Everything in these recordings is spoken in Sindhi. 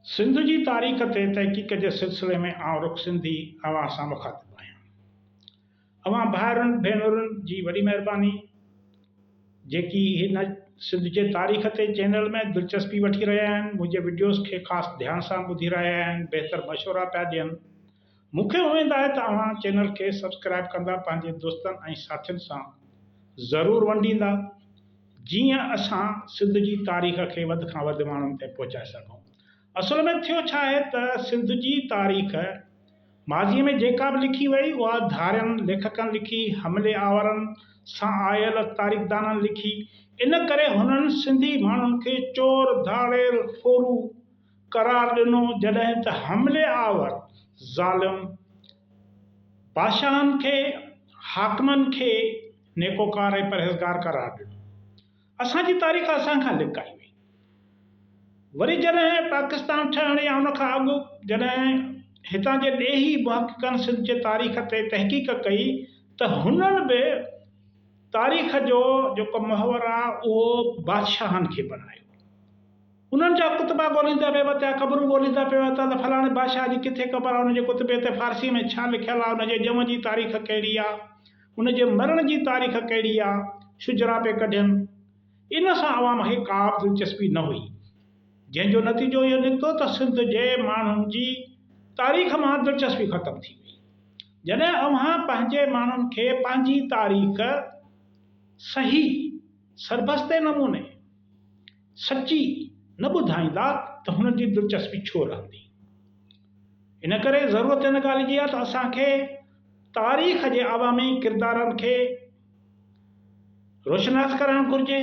سنڌ جي تاريخ تي تحقيق جي سلسلي ۾ آئون رخ سنڌي اوهان سان مخاطب آهيان. اوهان ڀائرن ڀينرن جي وڏي مهرباني جيڪي هن سنڌ جي تاريخ تي چينل ۾ دلچسپي وٺي رهيا آهن منهنجي وڊيوز کي خاص ڌيان سان ٻڌي رهيا آهن بهتر مشورا پيا ڏين مون کي اميد آهي ته اوهان چينل کي سبسڪرائيب ڪندا پنهنجي دوستن ۽ ساٿين سان ضرور ونڊيندا جيئن اسان سنڌ جي تاريخ کي وڌ کان وڌ ماڻهن تائين پهچائي سگهون اصل ۾ ٿيو ڇا آهي ته سنڌ جي تاريخ ماضي ۾ جيڪا به لکي وئي اها ڌارين ليکڪن لکي حملي آورن سان آيل تاريخدانن لکي ان ڪري هنن سنڌي ماڻهن کي چور ڌاڙيل ڦورو قرار ڏنو جڏهن ته حملي آور ظالم بادشاهن کي حاڪمن کي نيڪوڪار ۽ پرهيزگار قرار ڏنو اسان جي تاريخ اسان کان لڪائي وئي وري جڏهن پاڪستان ٺهڻ يا ان کان اڳ جڏهن هتان جي ڏيهي محققن سنڌ جي تاريخ تي تحقيق ڪئي ته هنن به تاريخ جو جيڪو محور آ اهو بادشاهن کي بنايو. انهن جا ڪتبا ڳوليندا پئي ورتيا، قبرون ڳوليندا پئي ورتا ته فلاڻي بادشاهه جي ڪٿي قبر آهي، ان جي ڪتبي تي فارسيء ۾ ڇا لکيل آهي، ان جي ڄم جي تاريخ ڪهڙي آهي، ان جي مرڻ جي تاريخ ڪهڙي آهي، شجرا پئي ڪڍين. ان سان عوام کي ڪا به دلچسپي نه هئي، جنهن جو نتيجو اهو نڪتو ته سنڌ جي ماڻهن جي تاريخ مان دلچسپي ختم ٿي وئي. جڏهن اوهان پنهنجي ماڻهن کي پنهنجي تاريخ صحيح، سربستي نموني، سچي نه ٻڌائيندا ته هنن جي دلچسپي ڇو رهندي؟ ان ڪري ضرورت ان ڳالهه جي آهي ته اسان کي تاريخ جي عوامي ڪردارن کي روشناس ڪرائڻ گهرجي.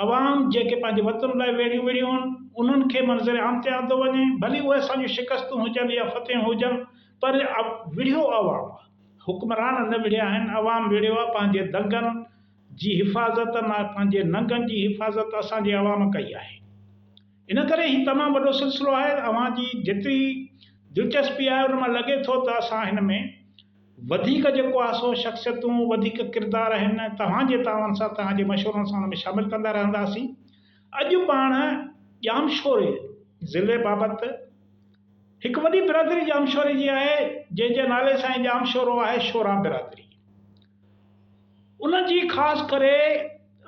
عوام جيڪي پنهنجي وطن لاء ويڙهيون وڙهيون هن، انهن کي منظر عام تي آندو وڃي. ڀلي اهي اسان جون شڪستون هجن يا فتحيون هجن پر وڙهيو عوام آهي. حڪمران نه وڙهيا آهن، عوام وڙهيو آهي پنهنجي دنگن، جي حفاظت ۽ پنهنجي ننگن جي حفاظت اسان جي عوام ڪئي آهي ان ڪري هي تمام وڏو سلسلو آهي اوهان جي جيتري دلچسپي آهي ان مان لڳي ٿو ته اسان هن ۾ وڌيڪ جيڪو آهي سو شخصيتون وڌيڪ ڪردار آهن توهان جي تعاون سان توهان جي مشورن سان ان ۾ شامل ڪندا رهنداسين اڄ پاڻ ڄامشوري ضلعي بابت هڪ وڏي برادري ڄامشوري جي آهي جنهن جي نالي سان ئي ڄامشورو آهي شورا برادري. ان جي خاص ڪري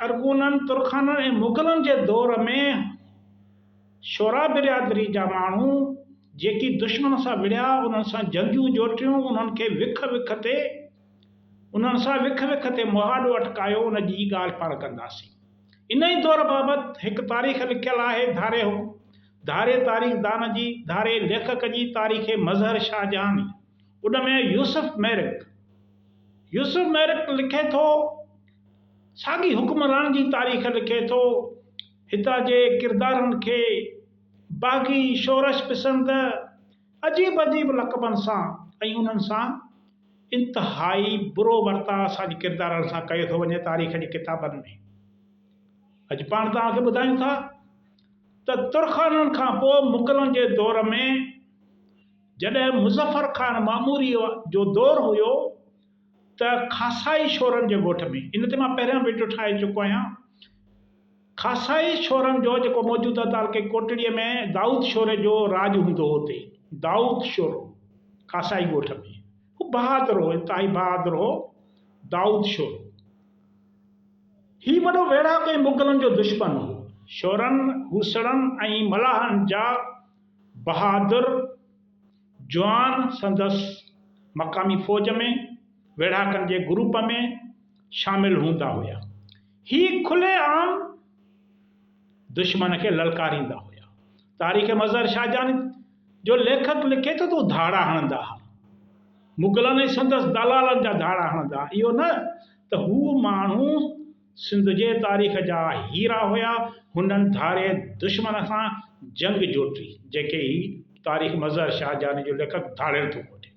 ارغونن، ترخانن ۽ مغلن جي دور ۾ شعراء برادري جا ماڻهو جيڪي دشمن سان وڙهيا، انهن سان جنگيون جوٽيون، انهن کي وک وک تي انهن سان وک وک تي مهاڏو اٽڪايو، ان جي ئي ڳالهه پاڻ ڪنداسين. ان ئي دور بابت هڪ تاريخ لکيل آهي، ڌاري حڪم، ڌاري تاريخدان جي، ڌاري ليکڪ جي تاريخ مظهر شاهجهاني. ان ۾ يوسف ميرڪ. يوسف ميرڪ لکي ٿو، ساڳي حڪمران جي تاريخ لکي ٿو، هتان جي ڪردارن کي باغي، شورش پسند، عجيب عجيب لقبن سان ۽ انهن سان انتهائي برو ورتاء اسان جي ڪردارن سان ڪيو ٿو وڃي تاريخ جي ڪتابن ۾. اڄ پاڻ توهان کي ٻڌايون ٿا ته ترخانن کان پوء مغلن جي دور ۾ جڏهن مظفر خان معموريء جو دور هيو ته خاصائي شورن جي ڳوٺ ۾، ان تي مان پهريان وڊيو ٺاهي چڪو آهيان، خاصائي شورن جو جيڪو موجوده تعلقي ڪوٽڙيء ۾ دائود شوري جو راڄ هوندو هو اتي دائود شورو خاصائي ڳوٺ ۾ هو بهادر هو، انتهائي بهادر هو دائود شورو. هي وڏو ويڙهاڪو ۽ مغلن جو دشمن هو. شورن، هوسڙن ۽ ملاحن جا بهادر جوان سندس مقامي فوج ۾ ويڙهاڪن جي گروپ ۾ شامل هوندا هيا. هي کلي عام دشمن کي للڪاريندا هيا. تاريخ مظهر شاهجهاني جو ليکڪ لکي ٿو ته هو ڌاڙا هڻندا ها. مغلن ۽ سندس دلالن جا ڌاڙا هڻندا ها. اهو نه ته هو ماڻهو سنڌ جي تاريخ جا هيرا هيا هنن ڌاري دشمن سان جنگ جوٽي جيڪي هي تاريخ مظهر شاهه جاني جو ليکڪ ڌاڙيل ٿو کوٽي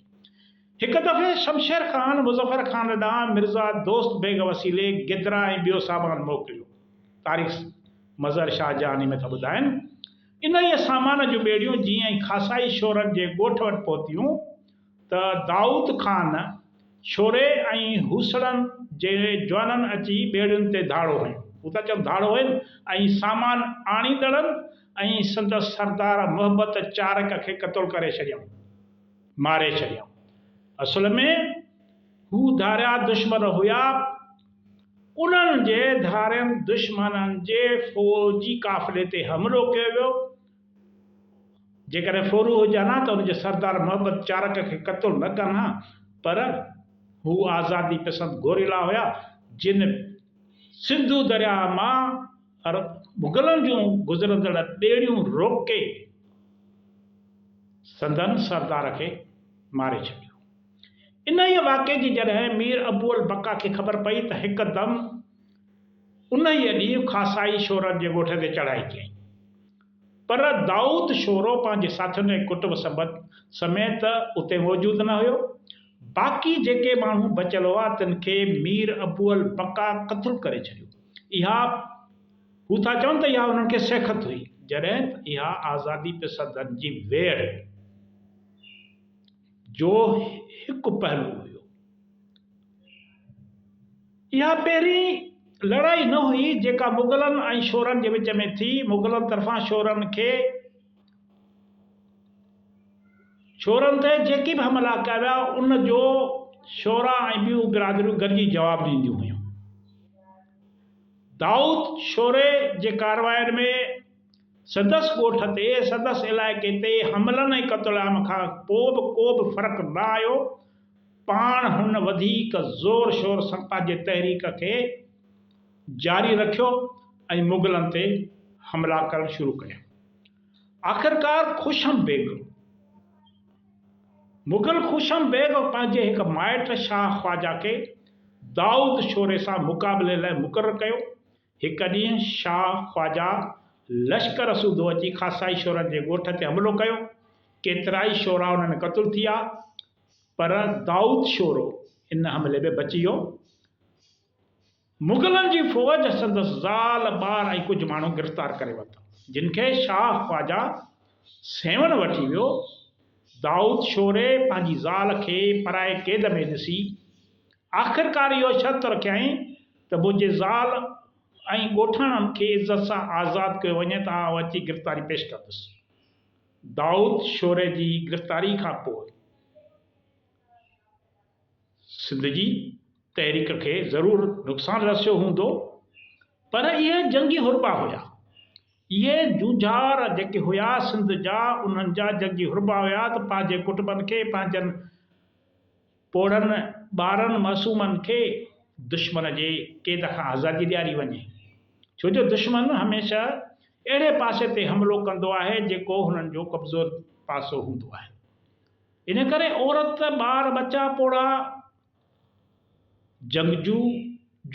هڪ دفعي شمشير خان مظفر خان ڏانهن مرزا دوست بيگ وسيلي گدرا ۽ ٻيو سامان موڪليو تاريخ مظهر شاهه جاني ۾ ٿا ٻڌائن انهيء سامان جون ٻيڙيون جيئن ئي خاصائي شورن جي ڳوٺ وٽ پهتيون ته دائود خان، شوري ۽ هوسڙن جي جوانن اچي ٻيڙين تي ڌاڙو هنيو. هو ٿا چون ڌاڙو هنيو ۽ سامان آڻيندڙن ۽ سندس سردار محبت چارڪ کي قتل ڪري ڇڏيائون، ماري ڇڏيائون. اصل ۾ هو ڌاريا دشمن هيا. انهن جي ڌارين دشمنن جي فوجي قافلي تي حملو ڪيو ويو. جيڪڏهن ڦورو هجان ها ته ان جي سردار محبت چارڪ کي قتل نه ڪن ها پر هو آزادي پسند گوريلا هيا جن سنڌو درياهه مان مغلن جون گذرندڙ ٻيڙيون روڪي سندن سردار کي ماري ڇڏيو. انهيء واقعي جي جڏهن مير ابوالبقا کي خبر پئي ته هڪدم انهيء ڏينهن خاصائي شورن جي ڳوٺ تي چڙهائي ڪيائين. پر دائود شورو پنهنجي ساٿين ۽ ڪٽنب سبد سميت اتي موجود نه هيو. باقي جيڪي ماڻهو بچيل هئا، تن کي مير ابو البقا قتل ڪري ڇڏيو. اها، هو ٿا چون ته اها انهن کي سيکت هئي، جڏهن ته اها آزادي پسندن جي ويڙهه هئي. جو هڪ پهلو هيو. اها پهرين لڙائي نه هئي جيڪا مغلن ۽ شورن جي وچ ۾ ٿي. مغلن طرفان شورن کي شورن تي جيڪي به حملا ڪيا ويا ان جو شورا ۽ ٻيون برادريون گڏجي جواب ڏينديون هيون. دائود شوري جي ڪاررواين ۾. سندس ڳوٺ تي، سندس علائقي تي حملن ۽ قتل عام کان پوء به ڪوبه فرق نه آيو. پاڻ هن وڌيڪ زور شور سان پنهنجي تحريڪ کي جاري رکيو ۽ مغلن تي حملا ڪرڻ شروع ڪيا. آخرڪار خوشم بيگ، مغل خوشم بيگ، پنهنجي هڪ مائٽ شاهه خواجه کي دائود شوري سان مقابلي لاء مقرر ڪيو. هڪ ڏينهن شاهه خواجه لشڪر سوڌو اچي خاصائي شورن جي ڳوٺ تي حملو ڪيو. ڪيترائي شورا انهن ۾ قتل ٿيا، پر دائود شورو ان حملي ۾ بچي ويو. مغلن جي فوج سندس زال، ٻار ۽ ڪجهه ماڻهو گرفتار ڪري ورتا، جن کي شاهه خواجه سيوهڻ وٺي ويو. دائود شوري پنهنجي زال کي پرائي قيد ۾ ڏسي، آخرڪار اهو شرط رکيائين، ته منهنجي زال ۽ ڳوٺاڻن کي عزت سان آزاد ڪيو وڃي ته آئون اچي گرفتاري پيش ڪندس. دائود شوري جي گرفتاري کان پوء سنڌ جي تحريڪ کي ضرور نقصان رسيو هوندو پر اهي جنگي حربا هيا. اهي جونجهار جيڪي هيا سنڌ جا انهن جا جنگي حربا هيا ته پنهنجي ڪٽنبن کي پنهنجن. پوڙهن ٻارن معصومن کي دشمن جي قيد کان آزادي ڏياري وڃي ڇو جو دشمن هميشه اهڙي پاسي تي حملو ڪندو آهي جيڪو هنن جو ڪمزور پاسو هوندو آهي ان ڪري عورت ٻار ٻچا پوڙها جنگجو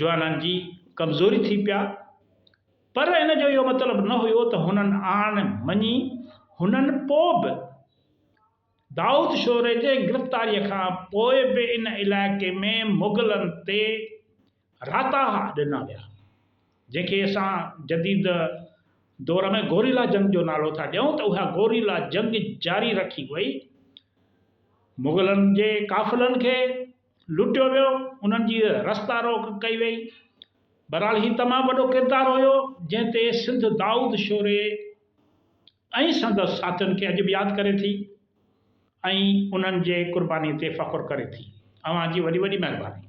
جوانن جي ڪمزوري ٿي پيا پر ان جو اهو مطلب نه هيو ته هنن آڻ مڃي هنن پوء به دائود شوري جي گرفتاريء کان پوء به ان علائقي ۾ مغلن تي راتاها ڏنا ويا، جنهن کي اسان جديد دور ۾ گوريلا جنگ جو نالو ٿا ڏيون ته اها گوريلا جنگ جاري رکي وئي، مغلن جي قافلن کي لٽيو ويو، انهن جي رستا روڪ ڪئي وئي، بهرحال هي تمام وڏو ڪردار هيو، جنهن تي سنڌ دائود شوري ۽ سندس ساٿين کي اڄ به ياد ڪري ٿي ۽ انهن جي قرباني تي فخر ڪري ٿي. اوهان جي وڏي وڏي مهرباني.